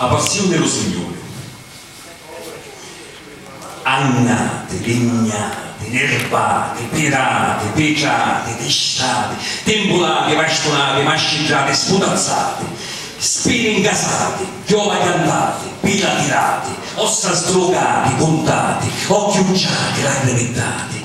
A passiuni ru Signuri. Annati, lignati, nirbati, pirati, pitrati, tistati, timbulati, vastunati, masciddrati, sputazzati, spini ncasati, chiova chiantati, pila tirati, ossa sdrucati, cuntati, occhi ucciati, lacrimi ddati,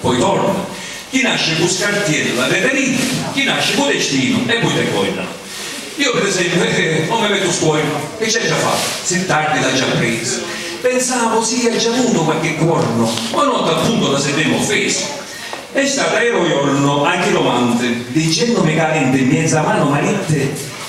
poi torna, chi nasci cu scartiellu a reverini, chi nasci cu destinu e poi te coina. Io per esempiu eh non mi mettu scuoina, chi c'è già fattu, si tardi l'ha già prisu, pensavu si ia già avutu qualche cuornu, ma no t'appuntu la sentemu offesu. E stata aero iornu anchi domanti, dicennumi ca aventi miezza manu maritti,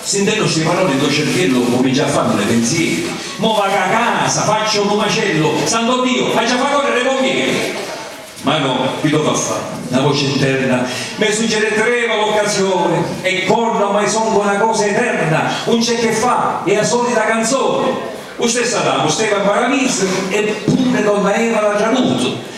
Sintennu sti paroli do cerchiellu cumincia a fannu li pinzieri, Mo vacu a casa, facciu lu macellu, Santo Dio, haggi a fa correre i pommieri! Ma no, chi do fa fa? Na voce interna me suggere Treva l'occasione e corra ormai songu na cosa eterna, un c'è che fa, è a solita canzone! U stessu Adamu steva in Paradisu e pure donna Eva l'ha tradutu,